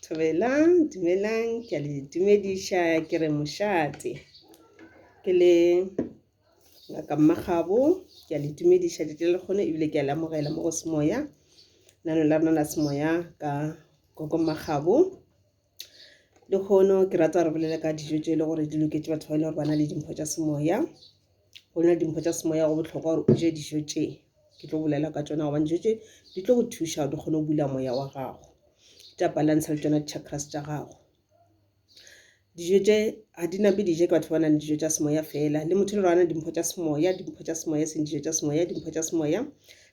Dumelang, dumelang, ke a le dumediša ke re mošate ke le ngaka mmagabo ke a le dumediša lete le kgone ebile ke a le amogela mo go semoya nano la rona la semoya ka gogo mmagabo le kgono ke rata gore bolele ka dijo tse e le gore di loketše batho ba e le gore ba na le dimpho tša semoya go na le dimpho tša semoya go bohlokwa gore o je dijo tše ke tlo bolela ka tšona gobane dijo tše di tlo go thuša gore di kgone go bula moya wa gago tša balance le tšona di-chakras tša gago dijo tše ga di nape dije ke batho ba nang le dijo tša semoya fela le motho le gore ana dimpho tša semoya dimpho tša semoya seng dijo tša semoya dimpho tša semoya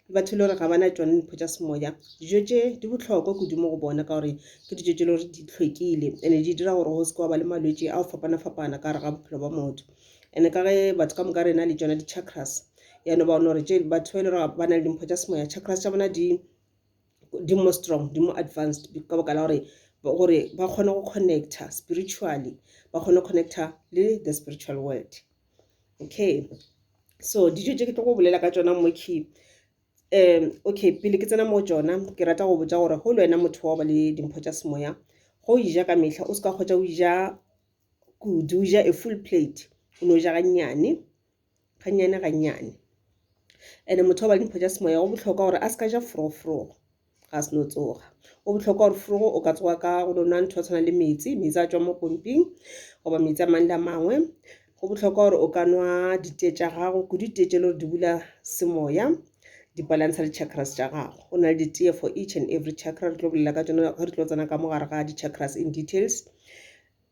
le batho le gore ga bana tšone dimpho tša semoya dijo tše di bohlokwa kodimo go bona ka gore ke dijo tše le gore di tlhwekile and-e di dira gore go se ke wa ba le malwetse a go fapana-fapana ka gare ga bophelo ba motho ene ka ge batho ka moka rena le tsona di-chakras yane ba gore tše batho ba e le gore ba na le dimpho tša semoya chakras tša bona di di more strong di more advanced ka boka la gore gore ba kgone go connecta spiritually ba kgone go connecta le the spiritual world okay so dijo tše ke tlo go bolela ka tsona mo key um okay pele ke tsena mo tsona ke rata go botsa gore go le wena motho wa ba le dimpho tša semoya go ija ka mehla o se ka kgotsa o ija kudu o ja a full plate o no ja gannyane gannyane gannyane ene motho wa ba dimpho tša semoya go botlhokwa gore a se ka ja foroforogo ga se no tsoga go botlhokwa gore forogo o ka tsoga ka go no nwa ntho ya tshwana le metsi metsi a tswa mo pomping goba metsi a mang le a mangwe go botlhokwa gore o ka nwa ditee tša gago ko ditee tše le gore di bula semoya di-balansa di-chakras tša gago go na le ditee for each and every chakra re tlo bolela ka tsona ga re tlo tsena ka mo gare ga di-chakras in details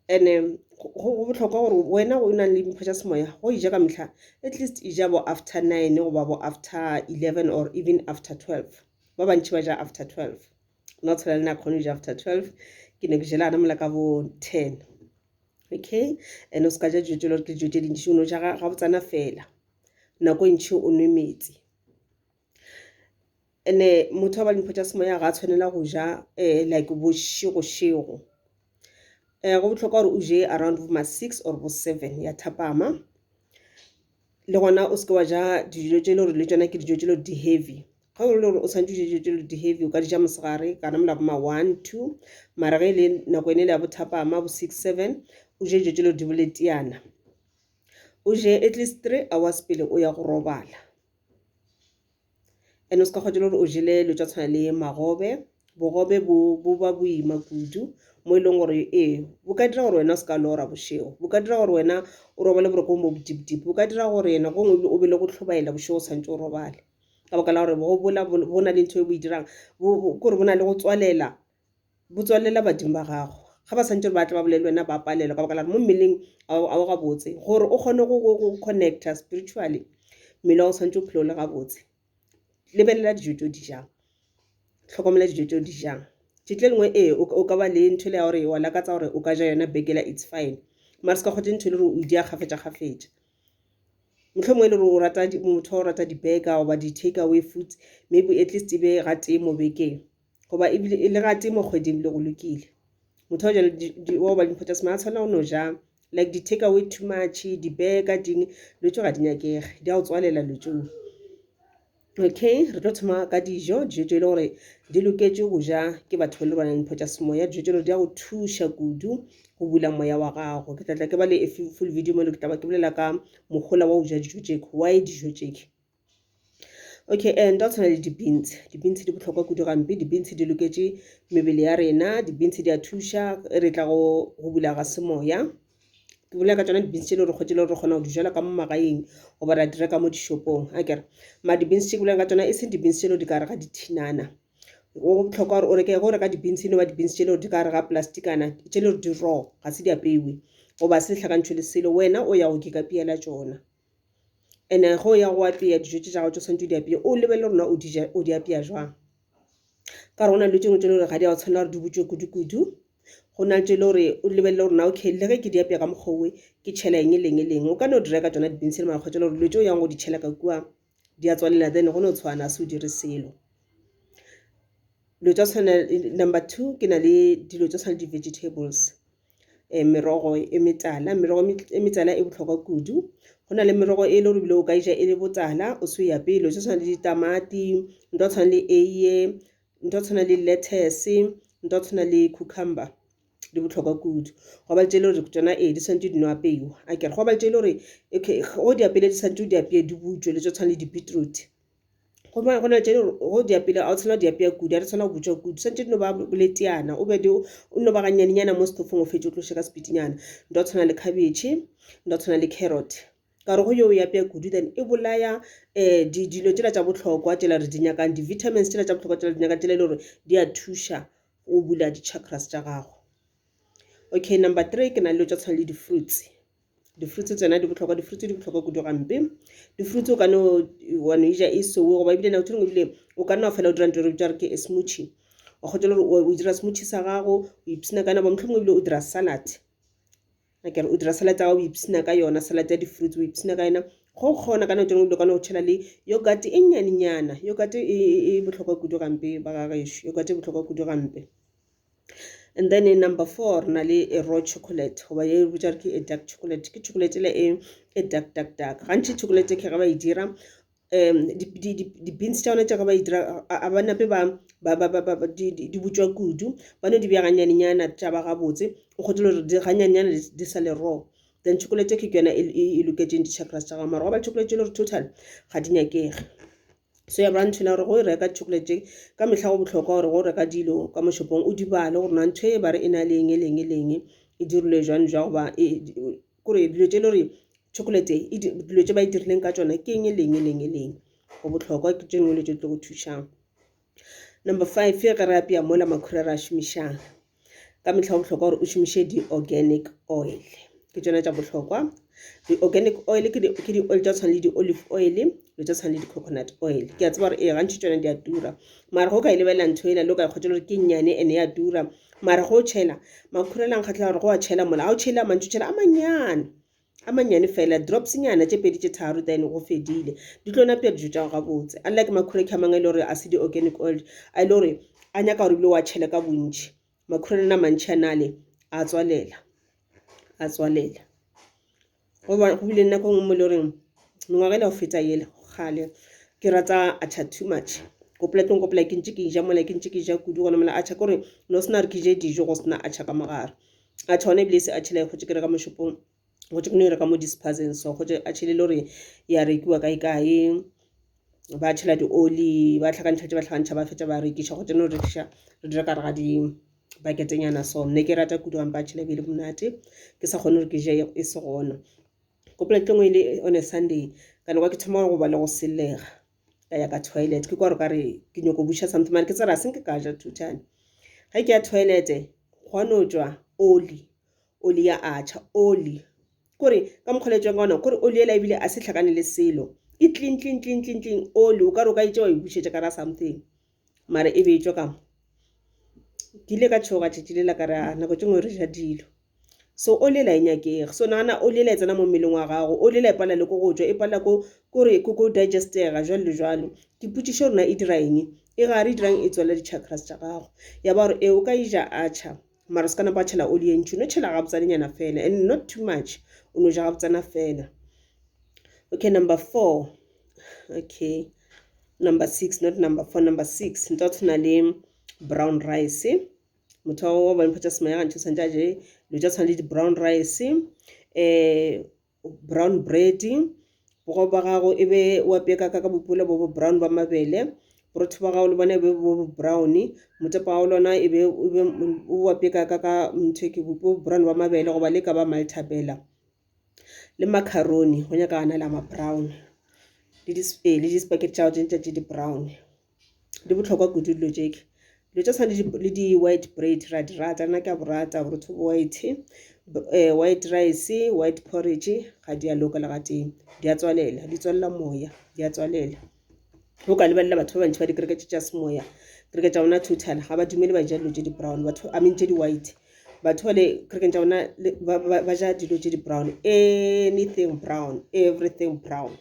ene go bohlokwa gore wena o nang le dimpho tša semoya go ija ka mehla at least ija bo after nine goba bo after eleven or even after twelve ba bantši ba ja after twelve nna tshela le na kgone go ja after twelve ke ne ke jela ana mola ka bo ten okay and o se ka ja dijo tse le gore ke dijo tse dintši o no ja ga botsana fela nako e ntšhi o nwe metsi And-e motho a ba le mpho tša semoya ga a tshwanela go ja like bošego-šego. Go bohlokwa gore o je around bo ma six or bo seven ya thapama, le gona o seke wa ja dijo tše e le gore le tšona ke dijo tše e le gore di heavy. Ge e le gore o swanetše o je dijo tše e le gore di heavy o ka di ja mosegare kana mola bo ma one, two. Mara ge e le nako yona e le ya bo thapama bo six, seven o je dijo tše e le gore di bo leteyana. O je atleast three hours pele o ya go robala. and o se ka kgwa le gore o jele dilo tša tshwana le magobe bogobe bo bo ba boima kudu mo e leng gore ee bo ka dira gore wena o se ka lora bošego bo ka dira gore wena o robale borokong bo botipitipi bo ka dira gore ena gongwe o be le go tlhobaela bošego o santse o robale ka baka la gore bogobe bola bo na le ntho e bo e dirang kore bo na le go tswalela bo tswalela badimo ba gago ga ba santse ba tla ba bolele wena ba palelwa ka baka la gore mo mmeleng a o gabotse gore o kgone go connecta spiritually mmele wa o tshwanetse o phele o le gabotse lebelela dijo tse o di jang tlhokomela dijo tse o di jang tšetla e lengwe ee o ka ba le ntho le ya gore wa lakatsa gore o ka ja yona bekela it's fine mare se ka kgotse ntho e le gore o di a kgafetša kgafetša motlho mongwe e le gore o rata motho o rata di-burger goba di-take away foods maybe at least e be ga tee mo bekeng goba ebile e le gate mo kgweding le go lokile motho wa jalo wa go ba dimpho tsa sema a tshwanela go no ja like di-take away too much dibeka ding dilo tso ga di nyakege di a go tswalela dilo tseo okay re tlo thoma ka dijo dijo tse e le gore di loketše go ja ke batho ba le bana dimpho tsa semoya dijo tselo di ya go thuša kudu go bula moya wa gago ke tlatla ke ba le full video mo le ke taba ke bolela ka mogola wa go ja dijo tšeke why dijo tšeke Okay nto tshwana le di-beans, di-beans di bohlokwa kudu gampe, di-beans di loketše mebele ya rena, di-beans di a thuša re tla go bula ga semoya. Ke bolela ka tsona di-beans tše le gore kgwedi le gore re kgona go di jala ka mo magaeng goba ra di reka mo dishopong akere. Mara di-beans tše ke bolelang ka tsona e seng di-beans tše le gore di ka gare ga dithinana, go bohlokwa gore o reke ge o reka di-beans e no ba di-beans tše le gore di ka gare ga plastikana tše le gore di raw ga se di apeilwe goba se hlakantšhwe le selo wena o ya go keka pea la tšona. and-e ge o ya go apeya dijo tše tša gago tše o swanetše o di apeye o lebelele gore na o di ja o di apeya jwang ka gore go na le dilo tše dingwe tše e le gore ga di a go tshwanela gore di butšwe kudu kudu go na le tše e le gore o lebelele gore na okay le ge ke di apeya ka mokgwa owe ke tšhela eng le eng le eng o ka no di reka tsona di-beans le mara kgotsa e le gore dilo tše o yang go di tšhela ka kua di a tswalela then go no tshwana se o dire selo dilo tša tshwana number two ke na le dilo tša tshwana le di-vegetables. um merogo e metala merogo e metala e bohlokwa kudu go na le merogo e le gore bile o ka e ja e le botala o se ya pele o tshwana le ditamati nto tshwana le eiye nto tshwana le lettuce nto tshwana le cucumber di botlhokwa kudu go ba le tšele gore tsona ee di tshwanetse di no apeiwa a kere go ba le tšele gore okay go di apele di tshwanetse o di apeye di butswe le tso tshwana le di-beetroot gomme go na tše go diapile ga o tshwana diapea kudu ga di tshwana go butswa kudu santse di no ba boleteana o be o no ba ganyanenyana mo setofong o fetše o tloše ka sepitinyana nto tshwana le khabetšhe nto tshwana le carrot ka gore go yo ya apea kudu then e bolaya um dilo tšela tša bohlokwa tšela re di nyakang di-vitamins tšela tša bohlokwa tšela di nyakang tšela e le gore di a thuša o bula di-chakras tša gago okay number three ke na le dilo tša tshwana le di-fruits. di-fruits tsena di botlhokwa di-fruits di botlhokwa kudu gampe di-fruits o ka no wa no ija e sewe goba ebile nako thengwe ebile o ka nna fela o dira ntho re bitsa re ke e smoothie o kgotsa gore o dira smoothie sa gago o ipsina ka nabo motlhomongwe ebile o dira salad akere o dira salad ya gago o ipsina ka yona salad ya di-fruits o ipsina ka yona go kgona ka nako thengwe ebile o ka no tšhela le yogurt e nyanenyana yogurt e botlhokwa kudu gampe ba ga gešo yogurt e botlhokwa kudu gampe and then in number four re na le a raw chocolate goba ye re bitša ke a dark chocolate ke chocolate le e e dark dark dark gantši chocolate ke ge ba e dira um di-beans tša yona tša ge ba e dira a ba nape ba di butšwa kudu ba no di bja ganyanenyana tša ba gabotse o kgotile gore di ganyanenyana di sa le raw then chocolate cake ke yona e loketseng di-chakras tša gago mara go ba chocolate e le gore total ga di nyakege So ya branch na gore go e reka chocolate tše ka mehla go bohlokwa gore go reka dilo ka moshopong o di bale gore na ntho e ba re e na le eng e leng e leng e dirilwe jwang jwa goba e, kore dilo tše le gore chocolate e dilo tše ba e dirileng ka tsona ke eng e leng e leng e leng go bohlokwa ke tše dingwe le tše tlo go thušang number five ge re apea mola makhura ra šomišang ka mehla go bohlokwa gore o šomiše di-organic oil ke tsona tša bohlokwa di-organic oil ke di-oil tša tshwana le di-olive oil lo tša tshwana le di-coconut oil ke a tseba gore ee gantši tsone di a tura mara go ka e lebelela ntho ena le o ka e kgotela gore ke nnyane ene ya tura mara go tšhela makhurela nkgatlhela gore go a tšhela mola ga o tšhele a mantši tšhela a manyane A mannyane fela, dropsnyana tše pedi tše tharo, then go fedile. Di tlo napša dijo tša go gabotse. Unlike makhureki a mangwe e le gore a se di-organic oil, a e le gore a nyaka gore ebile wa tšhele ka bontši. Makhurelana a mantši a nale, a tswalela, a tswalela. Go bile nako nngwe mo e le goreng mengwaga e le go feta ele gale ke rata acha too much gopola tlong gopola ke ntse ke ja mola ke ntse ke ja kudu gona mola acha kore no sena re ke je dijo go sena acha ka mogare a tšhone ebile se a tšhela gotse ke reka mo shopong gotse ke no e reka mo dispazeng so gotse a tšhele le gore ya rekiwa kae kae ba tšhela dioli ba tlhakantšha tse ba tlhakantšha ba fetša ba rekiša gotse no rekiša re dira ka re ga di baketenyana so nne ke rata kudu gampa tšhele ebile monate ke sa kgone gore ke je e se gona ko polekeng e le on a sunday ka nako ke thoma go ba le go selega ka ya ka toilet ke kwa re ka re ke nyoko busha something mare ke tsere a senke ka ja two time ge ke ya toilet gwa no tswa oli oli ya acha oli kore ka mokgwa le tswang ka ona kore oli ela ebile a se tlhakane le selo e clean clean clean clean clean oli o ka re o ka e tsewa e bušetša ka ra something mara e be e tšwa ka mo ke ile ka tšhoga tšatši le la ka ra nako tše ngwe re ja dilo so o lela e nyakege so nagana o lela e tsena mo mmeleng wa gago o lela e palela le ko go tswa e palela ko kore ko ko digestega jalo le jalo ke potšišo rona e dira eng e gare e dirang e tswela di-chakras tša gago ya ba gore e o ka e ja acha mara ska napa tšhela oli e ntši no tšhela gabotsanenyana fela and not too much o no ja gabotsana fela okay number four okay number six not number four number six nto tshwana le brown rice motho wa bone phatsa sema ya gantšha santse a je lo ja tshwana le di-brown rice um brown bread bogobe ba gago e be wa peka ka ka bopula bo bo brown ba mabele borotho ba gago le bona e be bo bo brown motepa wa lona e be o wa peka ka ka ntho ke bo brown ba mabele goba le ka ba maltabela le macaroni go nyaka ana la ma brown le di-spaghetti tša tša di-brown. di botlhokwa kudu dilo jeke dilo tsa tshwane le di-white bread ra di rata nna ke a borata borotho bo white um white rice white porridge ga di a loka le gatee di a tswalela di tswalela moya di a tswalela o ka lebelela batho ba bantši ba dikereke tše tša semoya kereke tša bona two thala ga ba dumele ba ja dilo tse di-brown batho i mean tše di-white batho ba le kerekeng tša bona ba ja dilo tše di-brown anything brown everything brown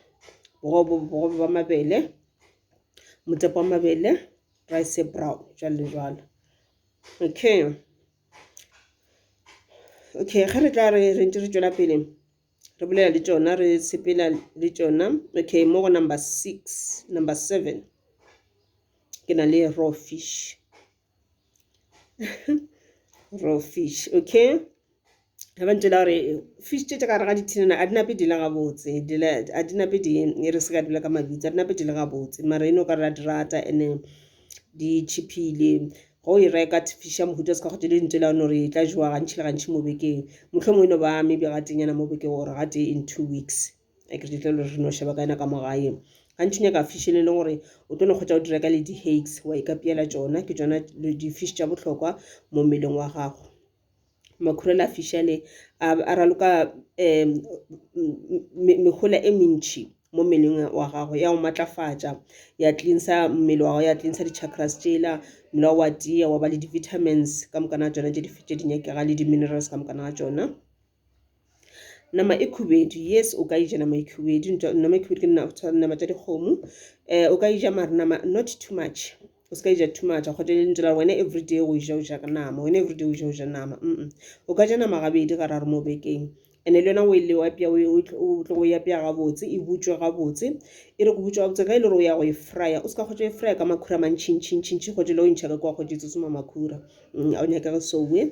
bogobe ba mabele motswako wa mabele rice e brown jwalo le jwalo okay okay ge re tla re re ntse re tšwela pele re bolela le tšona re sepela le tšona okay mo go number six number seven ke na le raw fish raw fish okay ga ba ntšwela gore fish tše tša gare ga dithinana a di nape di le gabotse a di nape di e re se ka dula ka mabitso a di nape di le gabotse mara e no ka ra di rata ene di cheapile go e reka fish ya mohuta se ka go tšele ntšwela no re e tla jewa gantši le gantši mo bekeng mohlomongwe e no ba maybe gatenyana mo bekeng gore gate in two weeks a ke ditlelo re no sheba ka yena ka mo gae gantši nyaka fish le le gore o tlo no kgotsa o dira ka le di-hakes wa e ka piyela tsona ke tsona di-fish tša bohlokwa mo mmeleng wa gago makhurela a fish ale a raloka um mehola e mentšhi mo mmeleng wa gago ya o matlafatša ya tlinsa mmele wa gago ya tlinsa di-chakras tšela mmele wa wa tia wa ba le di-vitamins ka mokana ga tsona tše di nyakega le di-minerals ka mokana ga tsona nama e khubedu yes o ka e ja nama e khubedu nama e khubedu ke nama tša dikgomo um o ka e ja mare nama not too much o se ka e ja too much kgote e ntira wena everyday o e ja o ja ka nama wena everyday o ja o ja nama o ka ja nama gabedi gararo mo bekeng and-e le yona o e le apea o tlo go e apea gabotse e butswe gabotse e re go butswa gabotse ka e le gore o ya go e fryer o se ka kgotsa e fryer ka makhura a mantšhintšhintšhintšhi kgote le o e ntšha ka kwa kgote e tsotsoma makhura ga o nyakege soe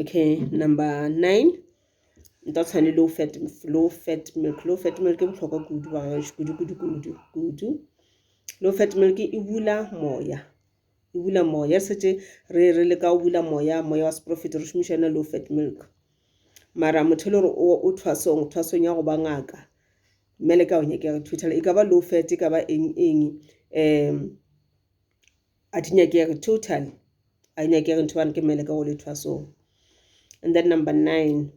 okay number nine nta tshwane low fat low fat milk low fat milk e bohlokwa kudu ba gaešo kudu kudu kudu kudu low fat milk e bula moya e bula moya setse re re le ka o bula moya moya wa seprofit re šomiša yona low fat milk mara motho e le gore o thwasong thwasong ya go ba ngaka mmele ka o nyakega thuthela e ka ba low fat e ka ba eng eng um a di nyakege totally a di nyakege ntho bane ke mmele ka go lethwa so and then number nine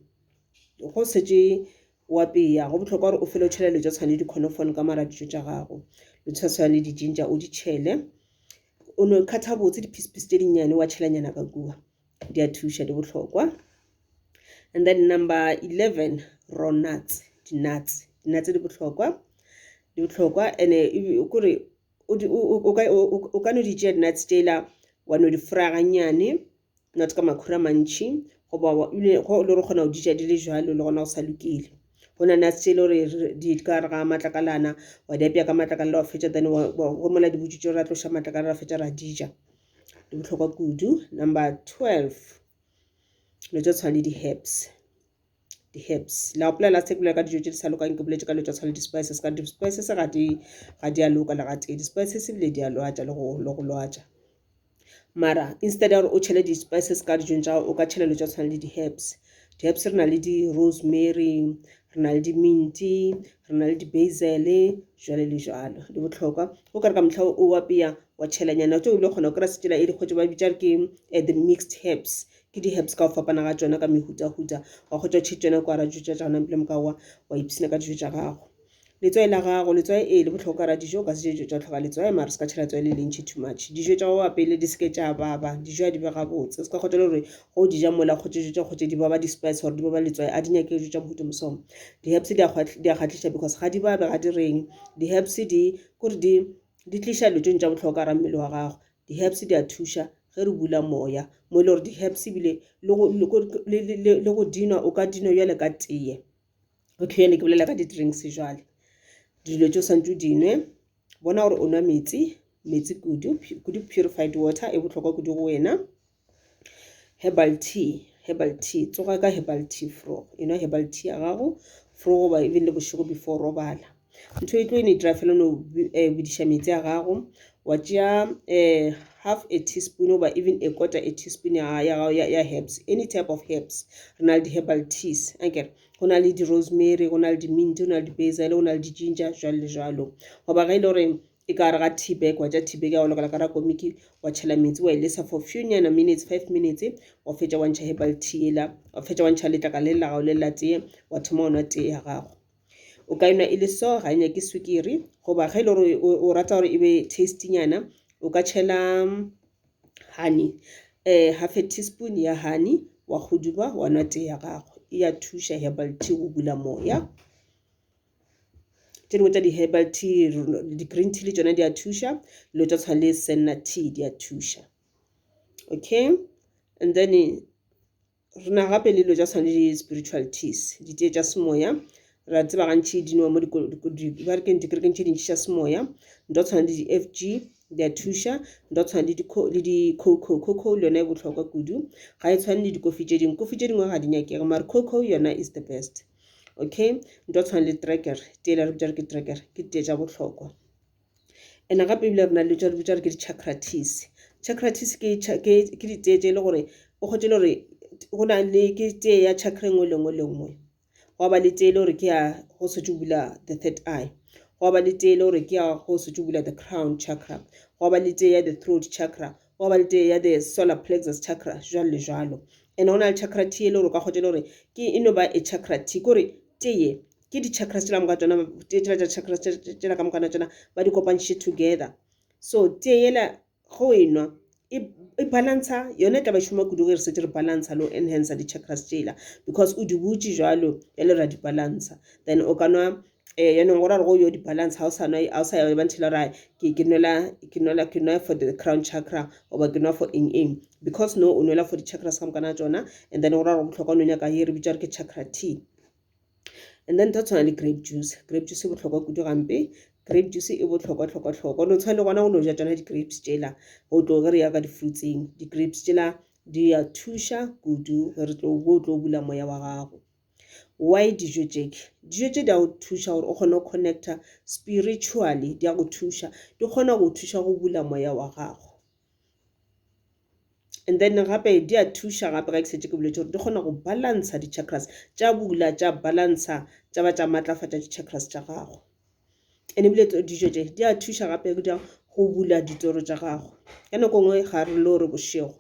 go setse wa peya go botlhokwa gore o fele o tšhele letswa tshwane le dikhonofone ka mara dijo tša gago letswa tshwane le dijinja o di tšhele o no kgatha botse diphisephise tse dinnyane wa tšhelanyana ka kua di a thuša di botlhokwa and then number eleven raw nuts di-nuts di-nuts di botlhokwa di botlhokwa and-e kore o ka no di tšea di-nuts tela wa no di fraya gannyane not ka makhura mantšhi goba le gore kgona go di ja di le jalo le gona go sa lokile go na nuts tse e le gore di ka re ga matlakalana wa di apea ka matlakalana wa fetša then go mola di butswitse ra tloša matlakalana ra fetša ra di ja di bohlokwa kudu number twelve dilo tse tshwana le di-herbs. di-herbs la gopola last time ke bolela ka dijo tse di sa lokang ke boletse ka dilo tsa tshwana le di-spices ka di-spices ga di ga di a loka le ga tee di-spices ebile di a lwatša le go le go lwatša mara instead ya gore o tšhele di-spices ka dijong tša o ka tšhela dilo tsa tshwana le di-herbs di-herbs re na le di-rosemary re na le di-minty re na le di-basil jwale le jalo di botlhokwa o kare ka motlha o apeya wa tšhelanyana tse o ile kgona go kry-a setsela e dikgwetso ba bitša re ke eh, the mixed herbs ke di herbs ka go fapana ga tšona ka mehutahuta wa kgotsa tšhe tšona kwa ra tša gona bile moka wa wa ipsina ka dijo tša gago letswai la gago letswai e le botlhokwa ra dijo ka se dijo tša tlhoka letswai mara se ka tšhela tswai le lentšhi too much dijo tša go pele di seke tša baba dijo a di be gabotse se ka kgotsa gore go di ja mola kgotse dijo tša kgotse di baba di-spice gore di baba letswai a di nyake dijo tša mohuta mosomo di-herbs di a kgatlhiša because ga di babe ga di reng di-herbs di kore di di tliša letsong tša botlhokwa ra mmele wa gago Di-herbs di a thuša ge re bula moya mo e le gore di-herbs ebile le go dinwa o ka dinwa jale ka teye o tlhoyane ke bolela ka di-drinks jale dilo tse o swantse o dinwe bona gore o nwa metsi metsi kudu kudu purified water e bohlokwa kudu go wena herbal tea herbal tea tsoga ka herbal tea fro you know herbal tea ya gago fro goba even le bošego before robala ntho e tlo e ne dira fela no eh, bodiša metsi a gago wa tšea um eh, half a teaspoon oba even a quarter a teaspoon ya gago ya herbs any type of herbs re na le di-herbal teas akere go na le di-rosemary go na le di-mint go na le di-basil go na le di-ginger jalo le jalo goba ga e le gore e ka gare ga tea bag wa tša tea bag ya go lokela ka ra komiki wa tšhela metsi wa e lesa for few nyana minutes five minutes wa fetša wa ntšha herbal tea ela wa fetša wa ntšha letlaka le lela gago le lela tee wa thoma go nwa tee ya gago o ka enwa e le so ga e nyake swikiri goba ge e le gore o rata gore e be tasty nyana o ka tšhela mm, honey um eh, half a teaspoon ya honey wa goduba wa nwa tee ya gago e ya thuša herbal tea go bula moya tše dingwe tša di-herbal tea di-green tea le tšona di a thuša dilo tša tshwana le senna tea di a thuša okay and then re na gape le dilo tša tshwana le di-spiritual teas ditee tša semoya re a tseba gantši di nowa mo dikerekeng dikerekeng tše dintši tša semoya nto tshwana le di-f g di a thuša nto tshwana le di-coco coco le yona e bohlokwa kudu ga e tshwane le dikofi tše dingwe kofi tše dingwe ga di nyakege mare coco yona is the best okay nto tshwana le tracker tele re bitša re ke tracker ke tee tša bohlokwa and gape ebile re na le tša re bitša re ke di-chacratis chacratis ke ke ditee tše e le gore o kgotše le gore go na le ke tee ya chakra engwe lengwe le nngwe gwa ba le tee e le gore ke ya go setse bula the third eye gwa ba le tee e le gore ke ya go setse bula the crown chakra gwa ba le tee ya the throat chakra Gwa ba le tee ya the solar plexus chakra, jwalo le jwalo. Ene go na le chakra tee e le gore o ka kgotša le gore ke e no ba e chakra tee, ke gore tee ye ke di chakras tšela moka tšona, tee tšela tša chakras tšela ka mokana tšona ba di kopantšhe together. So tee yela go e nwa e, e balantsha yone, e tla ba šoma kudu ge re setse re balantsha le go enhancer di chakras tšela because o di butše jwalo, jwale ra di balantsha. Then o ka nwa eh yanong go ra go yo di-balance ga o sa nwa ga o sa ya ba nthile ra ke ke nwela ke nwela ke nwa for the crown chakra oba ke nwa for eng eng because no o nwela for di-chakras ka mokana tsona and then go ra go botlhokwa no nyaka ye re bitsa re ke chakra tea and then tsa tshwana le grape juice grape juice e botlhokwa kudu gampe grape juice e botlhokwa tlhokwa tlhokwa no tshwana le gona go no ja tsona di-grapes tsela go tlo ge re ya ka di-fruitseng di-grapes tsela di ya thuša kudu re tlo bo tlo bula moya wa gago Why dijo tše? Dijo tše di a go thuša gore o kgone go connecta spiritually, di a go thuša. Di kgona go thuša go bula moya wa gago. And then gape di a thuša gape ga ke setse ke boletse gore di kgona go balantsha di-chakras tša bula tša balantsha tša ba tša maatlafatša di-chakras tša gago. And ebile dijo tše di a thuša gape go bula ditoro tša gago. Ka nako nngwe ga re lo re bošego.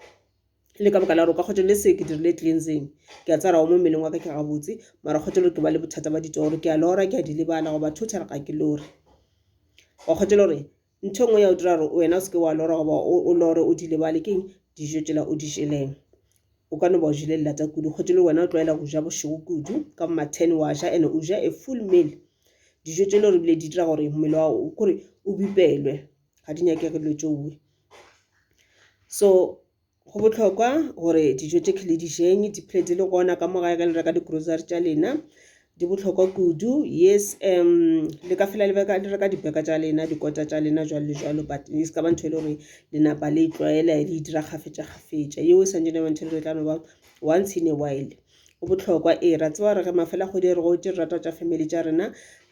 le ka baka la gore ka kgotelo le se ke dirile cleansing ke a tsaya gore mo mmeleng wa ka ke gabotse mara kgotelo ke ba le bothata ba ditoro ke a lora ke a di lebala goba total ga ke lore wa kgotelo gore ntho e nngwe ya o dira gore wena o seke wa lora goba o lore o di lebale keng dijo tsela o di jeleng o ka no ba o jele lelata kudu kgotelo wena o tlwaela go ja bošego kudu ka bo ma-ten wa ja and o ja a full meal dijo tse le gore bile di dira gore mmele wa kore o bipelwe ga di nyakege dilo tšoe So go bohlokwa gore dijo tše le dišweng di phele di le gona ka mo gae ge le reka di-grocery tša lena di bohlokwa kudu. Yes le ka felela le reka le reka di-burger tša lena dikota tša lena jwalo le jwalo but e se ka ba ntho e le gore le napa le e tlwaela le e dira kgafetša kgafetša. Yeo e swanetše e ba ntho e le gore e tla no ba once in a while. Go bohlokwa ee, re a tseba gore ge mafela kgwedi a re gotee re rata go tšwa family tša rena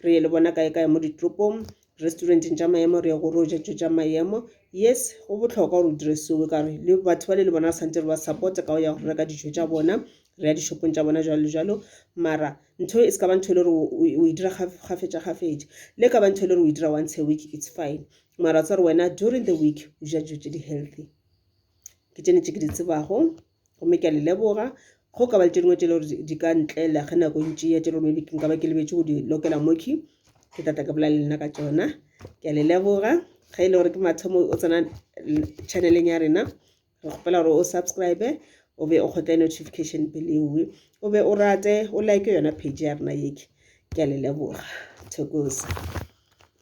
re ye le bona kae kae mo ditoropong Restauranteng tša maemo re ya go ro ja tšo tša maemo. Yes go bohlokwa gore o dire seo ka gore le batho ba le le bona re santse re ba support ka go ya go reka dijo tša bona re ya dishopong tša bona jalo le jalo mara ntho e se ka ba ntho e le gore o e dira gafetša gafetša le ka ba ntho e le gore o e dira once a week it's fine mara tsa gore wena during the week o ja dijo tše di-healthy ke tsene tše ke di tsebago gomme ke a le leboga go ka ba le tše dingwe tše le gore di ka ntlela ge nako ntši ya tše le gore maybe nka ba ke lebetše go di lokela moki ke tla tla ke bola le nna ka tsona ke a le leboga ge e le gore ke mathomo o tsena channeleng ya rena re kgopela gore o subscribe o be o kgotle notification peleoe o be o rate o like yona page ya rena yeke ke a le leboga thokosa